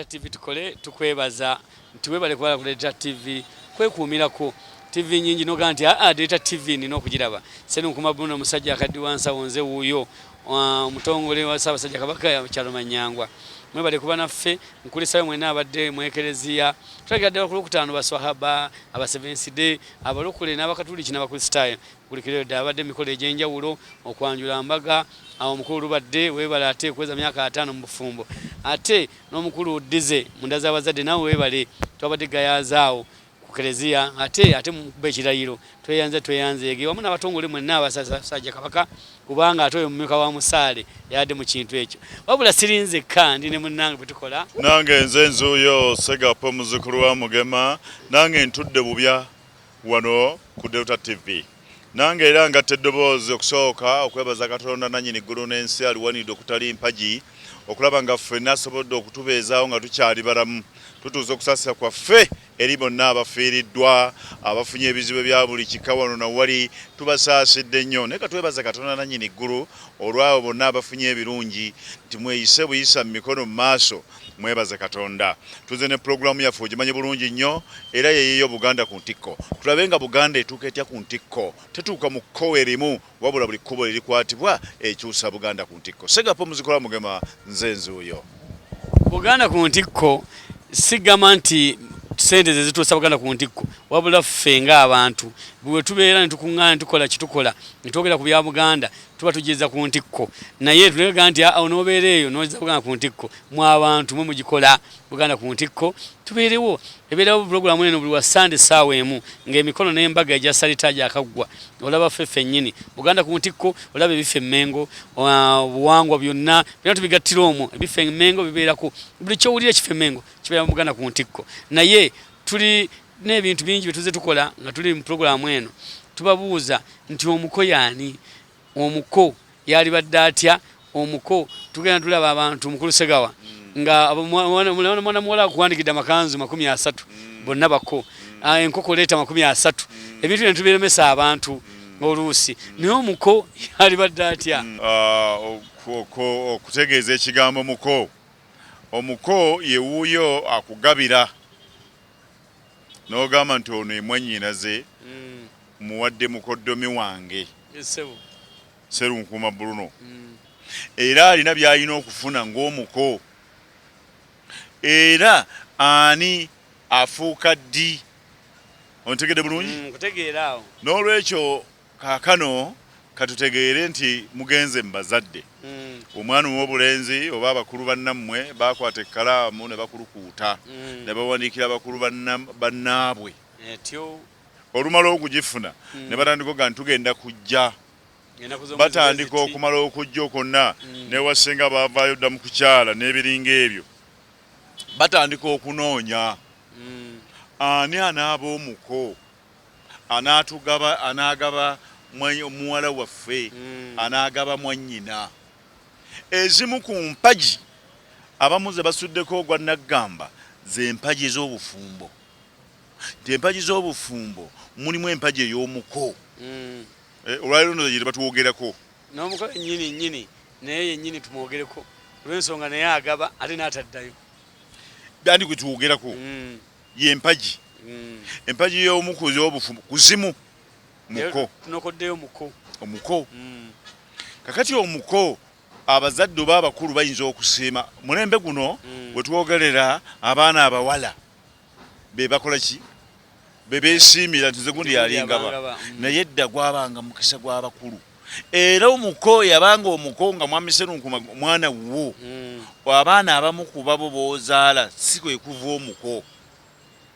TV tukole tukwebaza nti webale kubala ku Data TV kwekuumirako TV nyingi noga nti aa ah, ah, Data TV nina okugiraba senu nkuma buno omusajja akaddi wansa wonze wuuyo omutongole wa Ssaabasajja Kabaka ya kyalo Manyangwa mwebale kuba naffe nkulisayo mwena abadde mwekereziya tulagira ddala ku lwokutaano baswahaba abasevensi de abalokole n'abakatuliki n'abakristaayo Buli kiro edda abadde mikolo egy'enjawulo okwanjula mbaga awo mukulu lubadde webale ate okweza myaka ataano mu bufumbo ate n'omukulu dize munda z'abazadde nawe webale twabadde gayaaza awo ku kereziya ate ate mukuba ekirayiro tweyanze tweyanzeege wamu n'abatongole mwenna abasasajja kabaka kubanga ate oyo mumyuka wa musaale yadde mu kintu ekyo wabula sirinzekka ndi ne munnange bwe tukola nange nze nzuuyo segapo muzukulu wa mugema nange ntudde bubya wano ku Delta TV nange era ngatta eddoboozi okusooka okwebaza katonda nannyini ggulu n'ensi aliwanidde okutali mpagi okulaba nga ffenna asobodde okutubeezaawo nga tukyali balamu tutuuza okusaasira kwaffe eri bonna abafiiriddwa abafunye ebizibu ebya buli kika wano na wali tubasaasidde nnyo naye katwebaza katonda nannyini ggulu olwabo bonna abafunye ebirungi nti mweyise buyisa mu mikono mu maaso Mwebaze Katonda tuze ne pulogulaamu yaffe ogimanyi bulungi nnyo era yeeyeyo Buganda ku ntikko tulabe nga Buganda etuuka etya ku ntikko. Tetuuka mu kkowe limu wabula buli kkubo lirikwatibwa ekyusa Buganda ku ntikko. Ssegappa omuzikola Mugema nze nzuuyo. Buganda ku ntikko sigamba nti ssente ze zituusa Buganda ku ntikko wabula ffe ng'abantu bwe tubeera ne tukuŋŋaana ne tukola kye tukola ne twogera ku bya Buganda tuba tugeza ku ntikko naye tulega nti awo nobeera eyo noza buganda ku ntikko mu abantu mwe mugikola buganda ku ntikko tubeerewo ebeerawo pulogulamu eno buli wa sande saawa emu ngaemikono n'embaga egya salita gyakaggwa olaba ffe ffennyini buganda ku ntikko olaba ebiffe emmengo obuwangwa byonna byona tubigattira omwo ebiffe emmengo bibeerako buli kyowulira ekiffe emmengo kibeera mu buganda ku ntikko naye tuli Tulina ebintu bingi bye tuzze tukola nga tuli mu pulogulaamu eno. Tubabuuza nti omuko y'ani? Omuko yalibadde atya? Omuko tugenda tulaba abantu mukulu Segawa nga mwana muwala akuwandikidde amakanzu makumi asatu mm. bonna bako ah, enkoko leeta makumi asatu mm. ebintu bino tubiremesa abantu mm. oluusi naye omuko alibadde atya ah, okutegeeza ekigambo muko omuko yewuuyo akugabira nogamba nti ono emwanyinaze mm. muwadde mukoddomi wange serunkuuma bruno mm. era alina byalina okufuna ngaomuko era ani afuuka ddi ontegede bulungi mm, nolwekyo Kaakano ka tutegeere nti mugenze mu bazadde, omwana ow'obulenzi oba abakulu bannammwe baakwata ekkalaamu ne bakulukuuta, ne bawandiikira bakulu bannaabwe, olumala okugifuna ne batandika okuga nti tugenda kujja, batandika okumala okujja okwonna, n'ewa ssenga baavaayo dda mu kukyala n'ebiringa ebyo, batandika okunoonya ani anaaba omuko. Anaatugaba, anaagaba mwa, muwala waffe, anaagaba mwannyina. Ezimu ku mpagi abamu ze basuddeko ogwa nnaggamba ze mpagi z'obufumbo. Nti empagi z'obufumbo mulimu empagi ey'omuko. Eh, olwaleero ndowooza gye tebatwogerako. N'omuko yennyini nnyini naye yennyini tumwogereko olw'ensonga naye agaba ate n'ataddayo. Bandi gwe twogerako. Ye mpagi. Empagi y'omu ku z'obufu kuzimu muko. Tunokoddeyo muko. Omuko. Kakati omuko abazadde oba abakulu bayinza okusiima mulembe guno we twogerera abaana abawala be bakola ki? Be beesiimira nti nze gundi yali ngaba naye edda gwabanga mukisa gw'abakulu. era omuko yabanga omuko nga mwami serunkuma mwana wuwo mm. abaana abamu kubabo bozaala si kwekuva omuko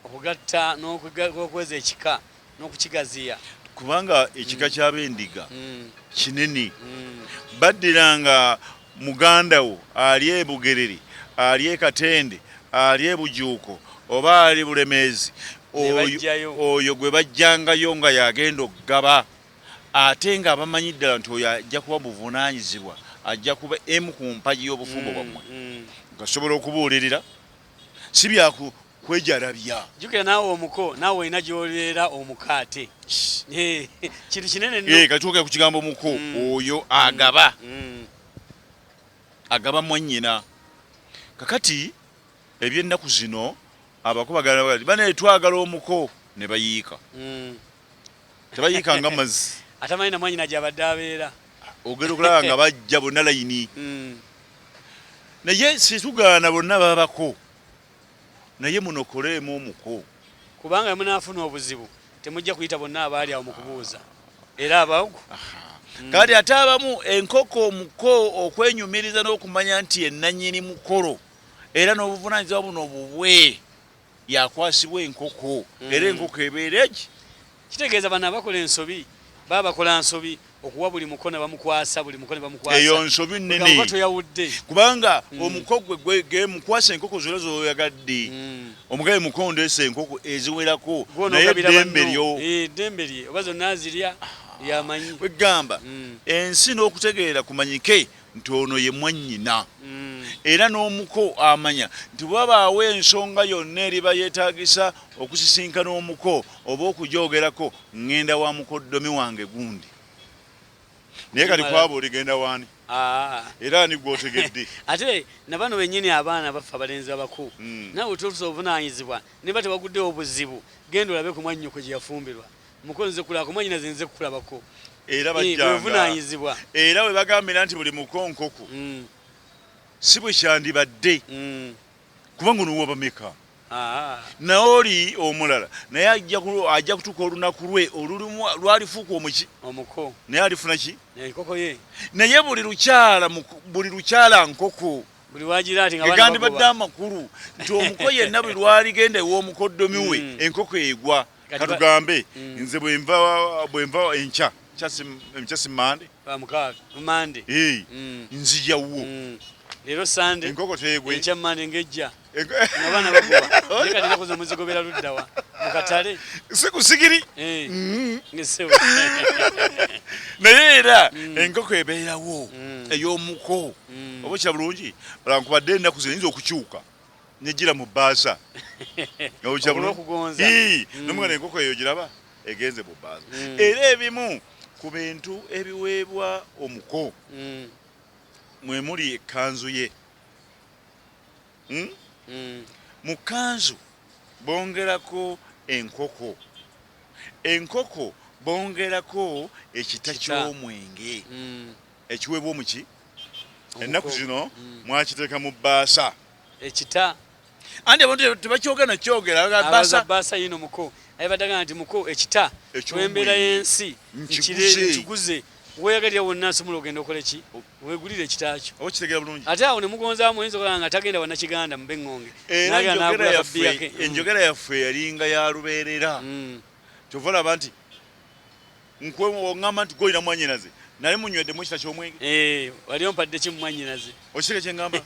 okugatta nokweza ekika nokukigaziya kubanga ekika mm. kyabendiga mm. kinene mm. baddiranga muganda wo ali ebugerere ali ekatende ali ebujuuko oba ali bulemeezi oyo gwe bajjangayo nga yagenda okugaba ate nga abamanyi ddala nti oyo ajja kuba buvunaanyizibwa, ajja kuba emu ku mpagi y'obufumbo bwammwe, ngasobola okubuulirira, si bya kwejalabya. Jjukira naawe omuko, naawe olina gy'oleera omukaate. Kintu kinene nnyo. Kati twogera ku kigambo muko, oyo agaba, agaba mwannyina. Kakati eby'ennaku zino abako bagala, banaye twagala omuko, ne bayiika. tebayiika nga mazzi atamanyi namwanyina gyabadde abeera ogenda okulaba nga bajja bonna layini hmm. naye situgaana bonna babako naye munokoleemu omuko kubanga munaafuna obuzibu temujja kuyita bonna abaali awo mu kubuuza era abagu hmm. kati ate abamu enkoko omuko okwenyumiriza n'okumanya nti enanyini mukolo era n'obuvunanyizibwa buno bubwe Yakwasibwa enkoko era enkoko ebeera egi. Kitegeeza bano abakola ensobi baba bakola nsobi okuwa buli muko nebamukwasa buli muko nebamukwasa eyo nsobi nene toyawudde kubanga mm. omuko gwe gemukwasa enkoko zona zoyagadde mm. omugabe muko ndesa enkoko eziwerako naye dembe lyo eh, dembe lye oba zona zirya yamanyi kwegamba mm. ensi n'okutegeera kumanyike nti ono ye mwannyina mm. era n'omuko amanya nti wabaawo ensonga yonna eriba yeetaagisa okusisinkana omuko oba okujoogerako ŋŋenda wa mukoddomi wange gundi naye kati kwaba oligenda waani ah. era ani gwotegedde ate nabano benyini abaana baffe abalenzi abakuu mm. nawe otusa obuvunaanyizibwa niba tebaguddewo obuzibu genda olabe ku mwannyoko gye yafumbirwa Mukulu nze kulako mwanyinaze nze kukulabako era eh, bajjanga era we bagambira nti buli mukonkoku mm. si bwe kyandibadde mm. kubanga onowa bameka ah. naye oli omulala naye ajja kutuuka olunaku lwe olulimu lwalifuuka omuki omuko naye alifuna ki naye buli lukyala buli lukyala nkoko egandibadde amakulu nti omuko yenna buli lwaligenda ew'omukoddomi we mm. enkoko egwa katugambe mm. nze bwenva bwenva enkya nkyasi mande mande mm. nzija wuwo mm. leero sande enkoko tegwe enkya mande ngejja abaana baguba naye kati nakuza muzigobera luddawa mu katale si ku sigiri eh. naye era enkoko ebeerawo ey'omuko oba kira bulungi olaba nkubadde ennaku zino yinza okukyuka nejira mu baza nojabulo kugonza ii mm. nomwana enkoko eyo jiraba egenze mu baza mm. era ebimu ku bintu ebiweebwa omuko mm. mwe muli ekanzu ye hmm? mm. mu kanzu bongerako enkoko enkoko bongerako ekita ky'omwenge mm. ekiweebwa omuki ennaku zino mm. mwakiteeka mu bbaasa ekita anti abantu tebakyogera nakyogera bbaasa yino muko ayebadagana nti muko ekita olwembeera y'ensi nkiguze weyagalira wonna nsobola ogenda okola ki wegulire ekitakyo ate awo nemugonzamu oyinza okola nga tagenda wanakiganda mube ŋŋonge enjogera yaffe yalinga ya lubeerera mm. kyova olaba nti Nkwe ongamba nti goyina mwanyinaze naye munywedde mukita kyomwenge eh, wali ompadde ki mumwanyinaze okiseke kyengamba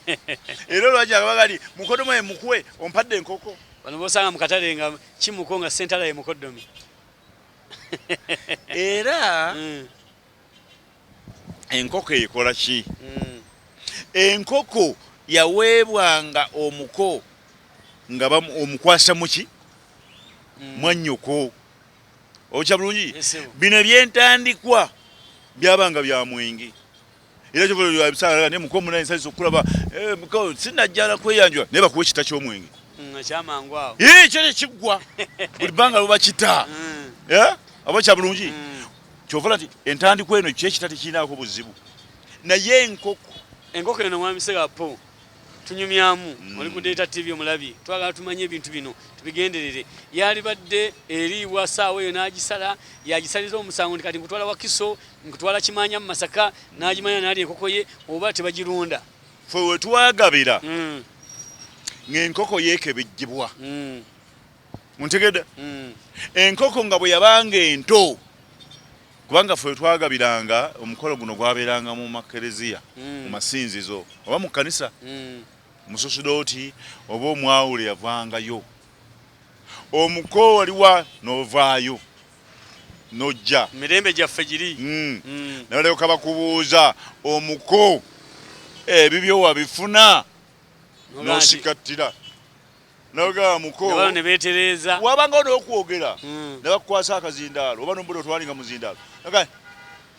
era olwaki abagali mukodomo ye mukwe ompadde enkoko bano bosanga mukatale nga kimuko nga sentala ye mukodomi era mm. enkoko ekola ki mm. enkoko yaweebwanga omuko nga omukwasa muki mm. mwanyoko okya bulungi bino ebyentandikwa byabanga bya mwenge era kyobaebisaa ne muko muna ensasi okulaba eh, sinajjala kweyanjula naye bakuwa ekita kyomwenge mm, eh, kyo tekiggwa buli bbanga lubakita mm. eh, aba kya bulungi mm. kyovala nti entandikwa eno kyekita tekirinaako buzibu naye enkoko enkoko eno mwamiserapo tunyumyamu mm. oli ku Data TV omulabi twagala tumanye ebintu bino tubigenderere yalibadde eriibwa saawa eyo n'agisala yagisaliza omusango nti kati nkutwala wakiso nkutwala kimanya mu masaka n'agimanya nali enkoko ye oba tebagirunda fe wetwagabira mm. ng'enkoko yeekebejjibwa mm. muntegedde enkoko nga bwe yabanga ento kubanga ffe twagabiranga omukolo guno gwabeeranga mu makereziya mm. mu masinzizo oba mu kkanisa mm. mususudooti oba omwawule yavangayo omuko waliwa novaayo nojja mirembe gyaffe giri mm. mm. nalyoka bakubuuza omuko ebibyo wabifuna nosikattira nabagamba muko bano ne beetereeza wabangawo n'okwogera hmm. ne bakukwasa akazindaalo oba nombuda otwalinga muzindaalo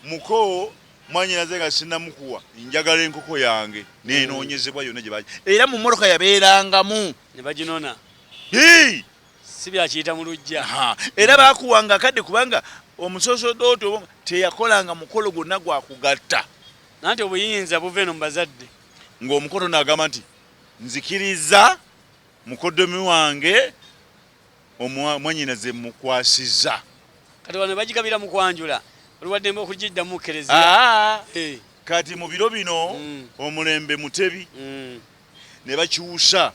muko mwanyinaze nga sinamukuwa njagala enkoko yange nenoonyezebwa yonna gye baki era mu mmotoka yabeerangamu ne baginona si byakiyita mu lujja era bakuwanga akadde kubanga omusosodooti obo teyakolanga mukolo gwonna gwakugatta nanti obuyinza buva eno mu bazadde ng'omukoto naagamba nti Nzikirizza mukoddomi wange omwa- mwannyinaze mmukwasizza. Kati wano bagigabira mu kwanjula, oli wa ddembe okugiddamu mu Kkereziya. Aa, Eh, kati mu biro bino Mm. omulembe mutebi mm, ne bakyusa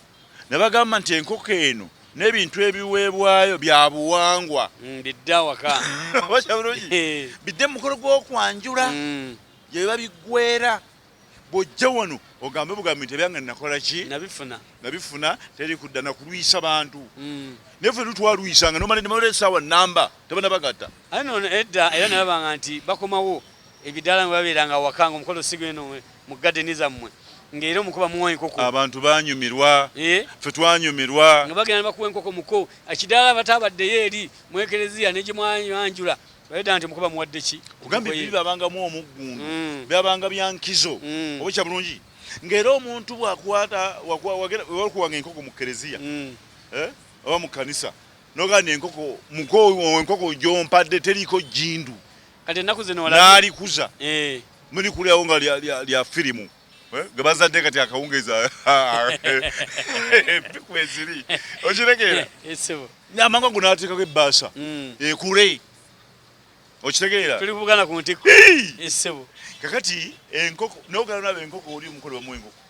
ne bagamba nti enkoko eno n'ebintu ebiweebwayo bya buwangwa mm, bidde awaka. Oba kya bulungi? Eh, bidde mu mukolo gw'okwanjula mm. gye biba biggweera bwojja wano ogambe bugambi nti ebyange nakola ki nabifuna nabifuna teri kudda nakulwisa bantu mm. naye fe lutwalwisanga nomala nemala esaawa namba tabana bagata aye nono edda era nalabanga nti bakomawo ebidaala nga babeeranga awaka nga omukolo sigweno mu gadeni zammwe ngaera omukuba muwa enkoko abantu banyumirwa eh? fe twanyumirwa nga bagenda nebakuwa enkoko muko ekidaala batabaddeyo eri mwekereziya negyemwanjula Bayeda nti mukuba muwadde ki? Kugambye bibi babangamu omuggundu. Mm. Byabanga bya nkizo. Mm. Oba kya bulungi. Ngera omuntu bwakwata wakwa wagera wakuwanga enkoko mu kereziya. Mm. Eh? Oba mu kanisa. Nogana enkoko muko enkoko jompadde teriko jindu. Kati nakuze no wala. Nalikuza. Eh. Muli kulyawo nga lya lya, lya filimu. Eh, nga bazadde kati akawungeezi ah, ah, empiku eh, eziri okitegeera eh, amanga gu nateekako ebbaasa hmm. ekule okitegeera tuli kubugana ku ntikko esebo kakati enkoko nogala naba enkoko oli omukolo wamu enkoko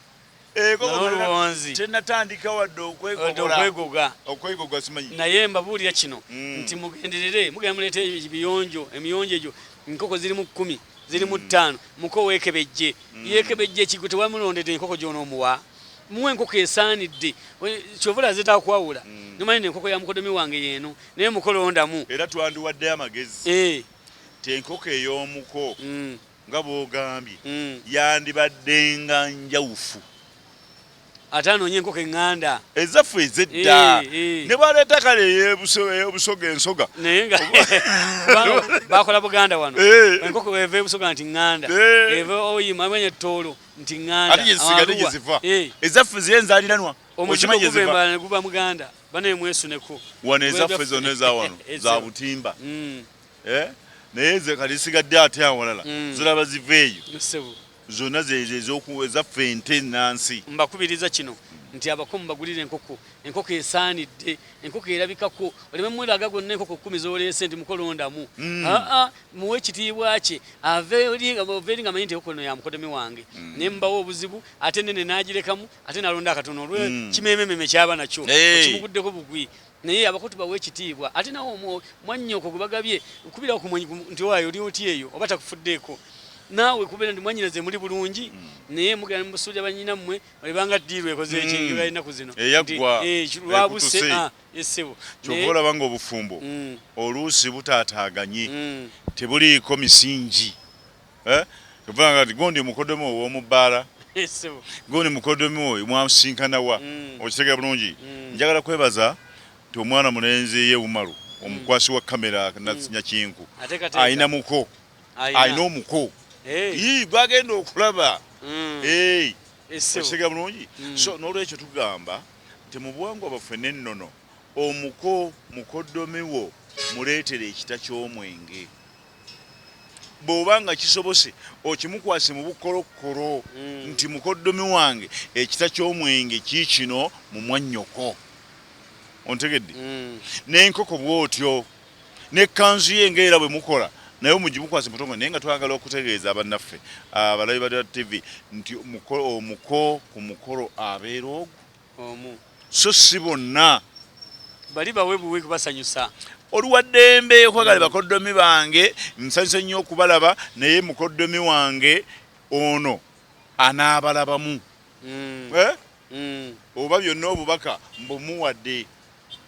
enkoko tenatandika wadde okwegogola okwegogola simanyi naye mbabuulira kino hmm. nti mugenderere mugenda muleeta ebiyonjo emiyonjo egyo enkoko ziri mu kkumi ziri mu ttaano muko weekebejje yeekebejje ekigwe tewamulondedde enkoko gy'onoomuwa muwa enkoko esaanidde kyova olaze takwawula nomanya ne enkoko ya mukodomi wange yeeno naye muko londamu era twandiwaddeyo amagezi eh. ti enkoko ey'omuko mm. nga bwogambye mm. yandibaddenga njawufu ate anoonye enkoko eŋŋanda ezaffe ezedda ne bwaleeta kale eyobusoga ensoga naye nga bakola buganda wano enkoko eva ebusoga nti ŋŋanda eva oyima amanya ttoolo nti ŋŋandaeziva ezaffe ziye nzaliranwa omuzigo guva embala ne guba muganda banaye mwesuneko wano ezaffe zonna eza wano za butimba mm. eh? naye ze kati zisigadde ate awalala mm. ziraba ziva eyo zona ezaffe ente nansi. Mbakubiriza kino nti abako mubagulire enkoko enkoko esaanidde enkoko erabikako oleme mulaga gonna enkoko kumi zoleese nti mukolondamu mm. aa muwe ekitiibwa kye aveeri nga manyi nti enkoko no yamukodemi wange mm. ne mbawo obuzibu ate nene nagirekamu ate nalonda akatono olwe mm. kimemememe kyaba nakyo hey. kimuguddeko bugwi naye abakotu bawe ekitiibwa ate nawe omwo mwannyoko gwe bagabye kubirawo ku mwanyi nti owayo oli oti eyo oba takufuddeeko naawe kubeera nti mwanyinaze muli bulungi mm. naye mugenda mubusuulira banyina mmwe ebanga ddiiru ekoze ekintu mm. ennaku zino eh, lwabuse ah, essebo kyova olaba nga obufumbo mm. oluusi butaataaganye tebuliiko misingi eh? Obanga ati gondi mukodemu owomu bala. Gondi mukodemu oyo mwamsinkana wa. Mm. Okitegera bulungi. Mm. Njagala kwebaza ti omwana mulenzi ye umaru mm. omukwasi wa kamera na mm. nyakinku. Aina muko. Aina omuko. Hey. Yii gwagenda okulaba. Mm. Hey. Okitegera bulungi. Mm. So nolwekyo tugamba ti mubuwangu abafwe nennono omuko mukodomi wo muletere ekita kyomwenge. bw'oba nga kisobose okimukwase mu bukolokkolo mm. nti mukoddomi wange ekita ky'omwenge kiikino mu mwannyoko ontegedde mm. n'enkoko bw'otyo n'ekkanzu ye nga era bwe mukola naye omugimukwase mutongo naye nga twagala okutegeeza abannaffe abalabi ba tv nti omuko ku mukolo abeera ogwo omu so si bonna bali bawe buwe kubasanyusa oli wa ddembe okwagala bakoddomi bange nsanyuse nnyo okubalaba naye mukoddomi wange ono anaabalabamu mm. eh? mm. oba byonna obubaka mbumuwadde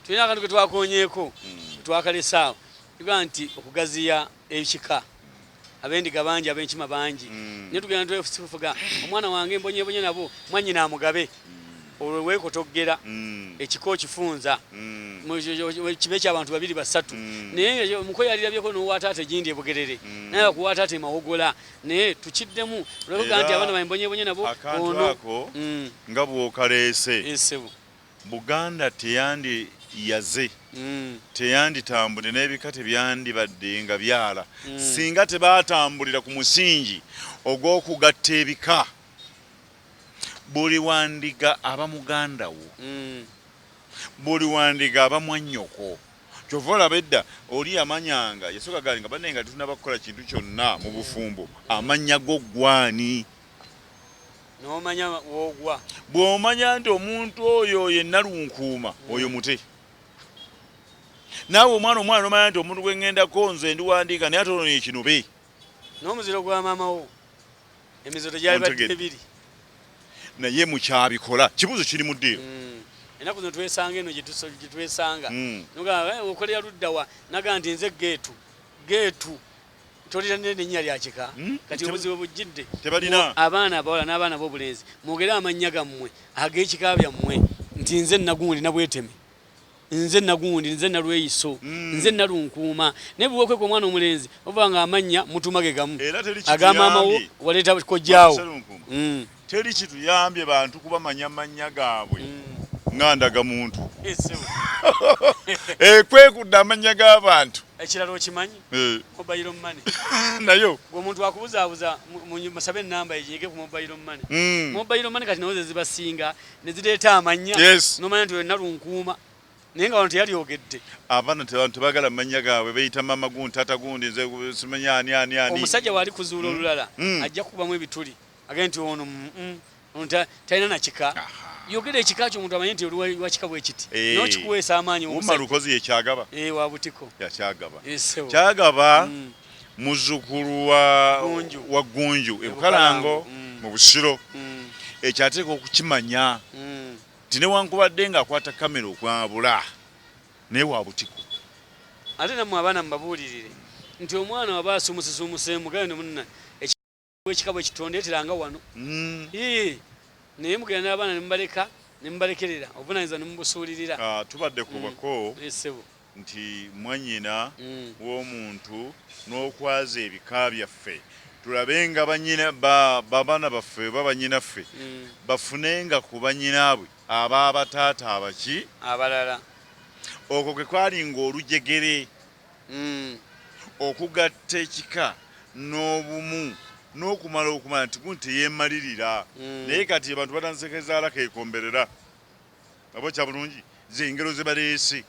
tulina akantu ke twakonyeeko mm. twakalesaawo iga nti okugaziya ekika abendiga bangi abenkima bangi mm. naye tugenda twefusifuga omwana wange mbonyebonye nabo mwanyina amugabe mm. olwo wekotoggera mm. ekika okifunza kibe ekyabantu babiri basatu naye omuko yalirabyeko nowataata egindi ebugerere naye akuwataata emawogola naye tukiddemu olwoga nti abaana bambonyebonye nabo ono nga bwokaleese Buganda teyandiyaze, teyanditambudde n'ebika tebyandibadde nga byala singa tebaatambulira ku musingi ogw'okugatta ebika. Buli wa Ndiga aba muganda wo, buli wa Ndiga aba mwannyoko. Ky'ova olaba edda oli yamanyanga, yasooka ga nga banne nga tetunnaba kukola kintu kyonna mu bufumbo, amannya go ggwe ani? nomanya wogwa bwomanya nti omuntu oyo oyo enalunkuuma mm. oyo mute naawe omwana omwana nomanya nti omuntu gwengendako nze ndiwandiika naye ate onono ekinobe n'omuziro gwa maamawo emiziro tegyalibadde ebiri naye mukyabikola kibuzo kiri mu ddiiro mm. enaku zino twesanga eno gyetwesanga mm. eh, okolera luddawa naga nti nze geetu geetu tolina n'erinnya lya kika hmm? kati obuzibu bujjidde tebalina abaana abawala n'abaana b'obulenzi mwogere amannya gammwe ag'ekika byammwe nti nze nagundi nabweteme nze nagundi nze nalweyiso hmm. nze nalunkuuma naye bwewokweka omwana omulenzi oba nga amannya mutumage gamu agamaamawo waleeta kojjaawo Teri kituyambye bantu kubamanya mannya gaabwe mm. nga ndagamuntu eh, kwekudda amannya g'abantu ekirala okimanyi eh. mobile money nayo omuntu akubuzaabuza musabe enamba eginyige ku mobile money mm. mobile money kati nawo zezibasinga nezireeta amannya nomanya nti olina lunkuuma naye nga wano teyalyogedde abaana tebagala mumanya gaabwe beyita mama gundi tata gundi nze simanya ani ani ani omusajja waali kuzuula mm. olulala mm. ajja kukubamu ebituli agee nti ono mm, mm, talina nakika yogera ekika kyo omuntu amanye nti oli wakika bwekiti eh. nokikuweesa amaanyi umalukozi yekyagaba eh, wabutiko yakyagaba eh, kyagaba mm. muzukulu wa gunju ebukalango mm. mu busiro mm. ekyo ateeka okukimanya nti newankubadde nga akwata kamera okwabula naye wabutiko ate namwe abaana mubabuulirire nti omwana waba asumusisumuseemu gayone munna ekika bwe kitondeetera nga wano mm. naye mugenda n'abaana ne mubaleka ne mubalekerera obuvunaanyizibwa ne mubusuulirira ah, tubadde ku mm. bako esebo eh, nti mwannyina mm. w'omuntu n'okwaza ebika byaffe tulabe nga banyina babaana baffe oba banyinaffe bafunenga ku banyinaabwe aba abataata abaki abalala okwo kwe kwali ng'olujegere okugatta ekika n'obumu n'okumala okumanya nti gundi teyeemalirira naye kati abantu batandise kezaala keekomberera oba kya bulungi z'engero ze baleese.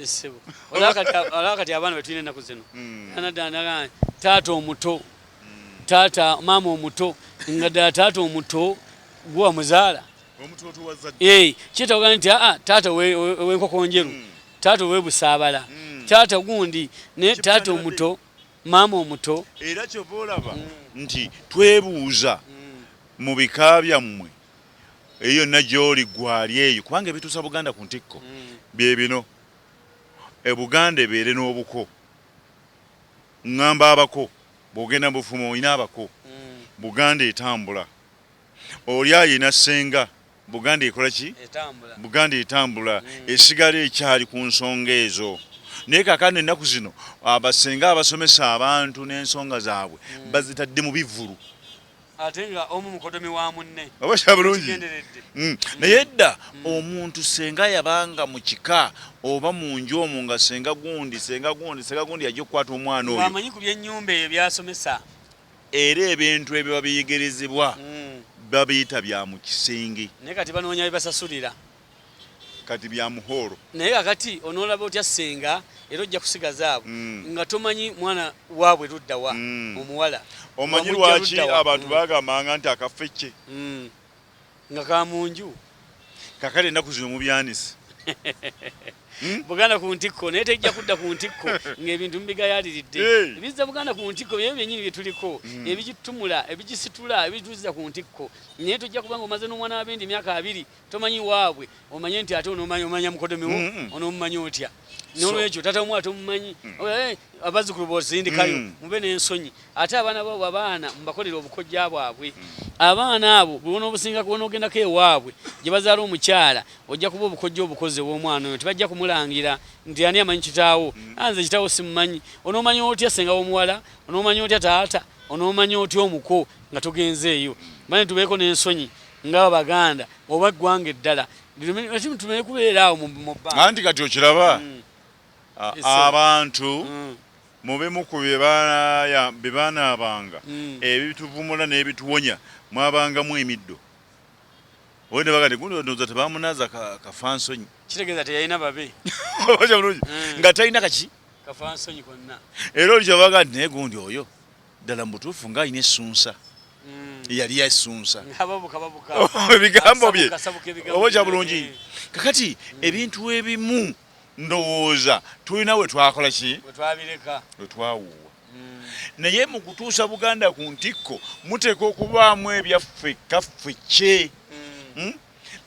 Ssebo olaba kati abaana be tulina ennaku zino hmm. ana ddala naga taata omuto hmm. taata maama omuto nga ddala taata omuto gwe wamuzaala kyetawogana nti aa taata ow'enkoko njeru hmm. Taata owebusaabala mm. taata gundi naye taata omuto maama omuto era kyova olaba mm. nti twebuuza mm. mu bika byammwe eyo yonna gyoli gwali eyo kubanga ebituusa buganda ku ntikko mm. bye bino e buganda ebeere n'obuko ŋŋamba abako bw'ogenda mu bufumu olina abako mm. buganda etambula oli ayina ssenga Buganda ekola ki? Etambula. Buganda etambula mm. esigala ekyali ku nsonga ezo naye kakano ennaku zino abasenga abasomesa abantu n'ensonga zaabwe mm. bazitadde mu bivvulu ate nga omu mukodomi wa munne oba kya bulungi mm. naye edda mm. omuntu senga yabanga mu kika oba mu nju omu nga senga gundi senga gundi senga gundi yajja okukwata omwana oyo amanyi ku byennyumba ebyo byasomesa Era ebintu ebiba biyigirizibwa babiyita bya mu kisenge. Naye kati banoonya bibasasulira. Kati bya mu hall. Naye kakati onoolaba otya ssenga era ojja kusigaza abo nga tomanyi mwana waabwe ludda wa omuwala. Omanyi lwaki abantu bagambanga nti akafecce nga ka mu nju kakale ennaku zino mubyanisi hmm? buganda ku ntikko naye tejja kudda ku ntikko ng'ebintu mubigayaliridde ebizza buganda ku ntikko byebyo byenyini bye tuliko hmm. ebigitumula ebigisitula ebituziza ku ntikko naye tojja kuba nga omaze n'omwana wabendi emyaka abiri tomanyi waabwe omanye nti ate onomanya mukoddomi wo onomumanyi otya nolwekyo tata omu ate omumanyi mm. oh, eh, abazukulu bosindikayo mm. mube nensonyi ate abaana babo abaana mubakolera obukojja bwabwe mm. abaana abo bwonobusinga bwonogendako ewaabwe gyebazaala omukyala ojja kuba obukojja obukoze womwana oyo tibajja kumulangira nti ani amanyi kitaawo anze kitaawo simumanyi onomanya otya senga womuwala onomanya otya taata onomanya otya omuko nga tugenzeeyo mane tubeeko nensonyi nga abaganda oba eggwanga eddala tumanye kubeera awo mu bba anti kati okiraba mm. abantu mm. mubimu ku byebaanaabanga mm. ebituvumula n'ebituwonya mwabangamu emiddo oyo nebagati gunoza tebamunaza kafansonyi kitegeeza teyalina babe nga talina kaki kafansonyi konna era oli kyebaga nti naye gundi oyo ddala mubutuufu nga alina essunsa mm. yali yasunsa ebigambo bye oba kya bulungi eh. kakati mm. ebintu ebimu ndowooza tulina we twakola ki we twawuuwa mm. naye mu kutuusa buganda ku ntikko muteeka okubaamu ebyaffe kaffe kye hmm?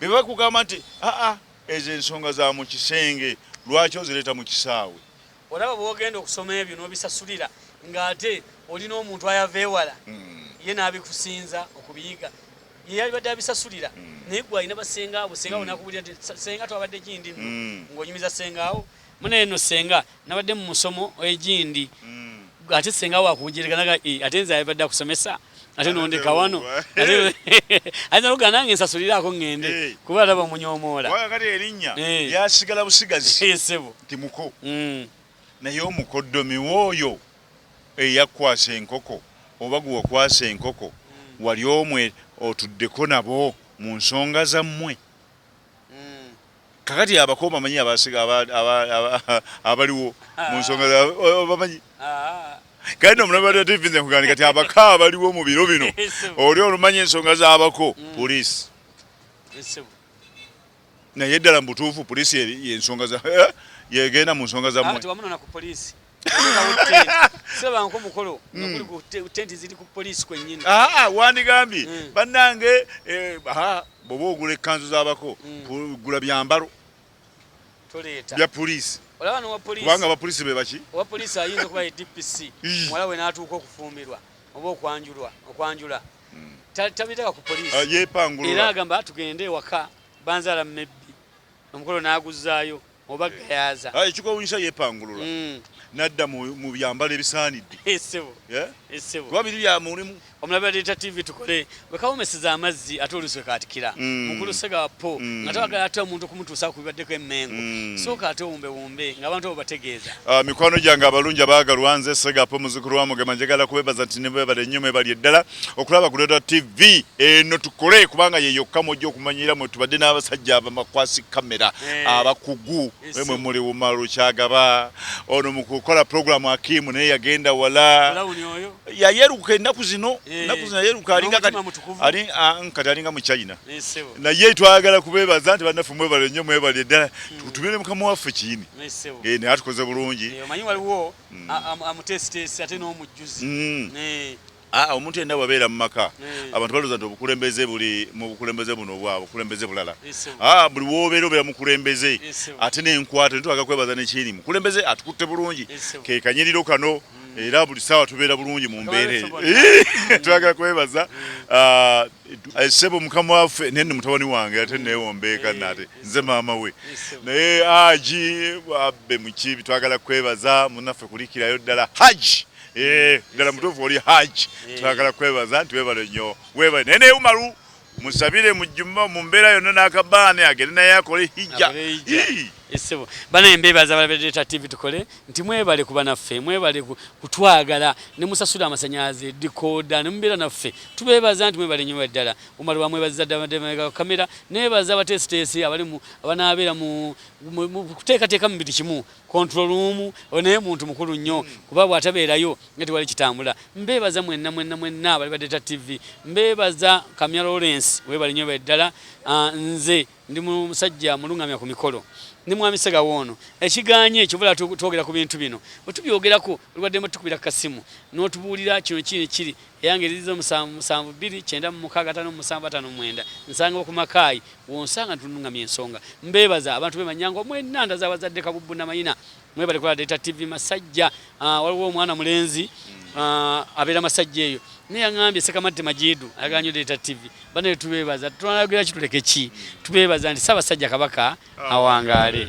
bye bakugamba nti aa ezo ensonga za mu kisenge lwaki ozireeta mu kisaawe Olaba bwogenda okusoma ebyo nobisasulira nga ate olina omuntu ayava ewala mm. ye nabikusinza okubiyiga yeyalibadde abisasulira mm. naye gwe alina basengaawo senga mm. nakubulira nti senga twabadde gindi mm. ngaonyumiza sengaawo munaye no senga nabadde mu musomo egindi mm. ate senga wakujereka naga eh, ate nze ayabadde akusomesa ate nondeka wano ayinza eh. kugaa nange nsasuliraako ŋŋende eh. kuba alaba omunyomoola kati erinnya eh. lyasigala busigazi sebo nti muko mm. naye omukoddomi wooyo eyakwasa enkoko oba gwe wakwasa enkoko mm. wali omwe otuddeko nabo mu nsonga zammwe mm. Kakati abako bamanyi abasiga abaliwo mu nsonga bamanyi kandi omulabe wa tv nze nkugambye kati abako abaliwo mu biro bino oli olumanya ensonga z'abako mm. poliisi naye ddala mu butuufu poliisi yensonga eh? yegenda mu nsonga zamwe sebanko mukolo nokuli ku tenti ziri ku poliisi kwennyini aa ah, ah, wandigambye hmm. bannange eh, bwoba ogula ekkanzu z'abako hmm. gula byambalo toleeta bya poliisi olaba nowa poliisi kubanga abapoliisi be baki owa poliisi ayinza okuba ye dpc muwala we n'atuuka okufumbirwa oba okwanjulwa okwanjula hmm. tabiteka ku poliisi ah, yepangulula era agamba tugende ewaka banzaala mebbi omukolo n'aguzzaayo oba gayaza ah, ekigwawunyisa yepangulula mm. nadda mu byambalo ebisaanidde kuba biri bya mulimu omulabi aleeta tv tukole wekawomeseza amazzi ate oluswe katikira mm. mukulu sega po mm. nga tewagala ate omuntu okumutuusa ku bibaddeko emmengo sooka ate owumbewumbe ng'abantu abo bategeeza ah, mikwano gyange abalungi abaagalwa nze sega po muzukulu wa mugema njagala kubebaza nti nebebale nnyo mwebali eddala okulaba ku Dada TV eno tukole kubanga ye yokka mwojja okumanyira mwe tubadde n'abasajja abamakwasi kamera eh, abakugu eh, mwe muli Umaru Kyagaba ono mu kukola programu Akimu naye yagenda wala yayeruka ennaku zino eh, ennaku zino yayeruka alinga kati ah, alinga mu China naye twagala kubeebaza nti bannaffe mwebale nnyo mwebale ddala hmm. tutumire mukama waffe kiini naye atukoze bulungi omanyi waliwo hmm. amutesiteesi ate n'omujjuzi hmm. Aa, ah, omuntu yenna bwabeera mu maka hmm. abantu balooza nti obukulembeze buli mu bukulembeze buno obwa bukulembeze bulala aa ah, buli wobeera obeera mukulembeze ate n'enkwato netwaga kwebaza nekyiri mukulembeze atukutte bulungi kekanyiriro kano hmm. era buli saawa tubeera bulungi mu mbeera eyo twagala kwebaza hmm. ah, eh, sebo mukama waffe naye ni mutabani wange ate newombeeka nate nze maama we naye aji abbe mukibi twagala kwebaza munaffe kulikirayo ddala haji Eh, ddala mutuufu oli haji eh. twagala kwebaza nti webale nnyo webale naye naye umaru musabire mujjuma mu mbeera yonna n'akabaane agende naye akole hijja esebo bana embeebaza balabereeta tv tukole nti mwebale kuba naffe mwebale kutwagala ne musasula amasanyalaze dikooda ne mubeera naffe tubeebaza nti mwebale nnyo ddala umaru bamwebaziza ddala kamera nebaza abateesiteesi abali abanaabeera mu kuteekateeka mu buli kimu control room onaye muntu mukulu nnyo hmm. kuba bwatabeerayo nga tewali kitambula mbeebaza mwenna mwenna mwenna bali badeta tv mbeebaza kamya lawrence webali nyo beddala ah, nze ndi musajja mulungamya ku mikolo ne mwami segawo ono ekiganye ekyobola twogera ku bintu bino bwetubyogerako olwadde mutukubira kasimu n'otubuulira kino kiri kiri Eyange eriziza omusanvu musanvu bbiri kyenda mu mukaaga ataano mu musanvu ataano mu mwenda nsanga okumakaayi wonsanga ntunungamya ensonga mbeebaza abantu be manyangwa mwena ndaza abazadde kabubbu namayina mwebale kola data tv masajja ah, waliwo omwana mulenzi ah, abeera masajja eyo naye yaŋambye sekamatti majidu ayaganyo data tv banaye tubeebaza tunayogeraki tuleke ki tubeebaza nti saabasajja kabaka awangaale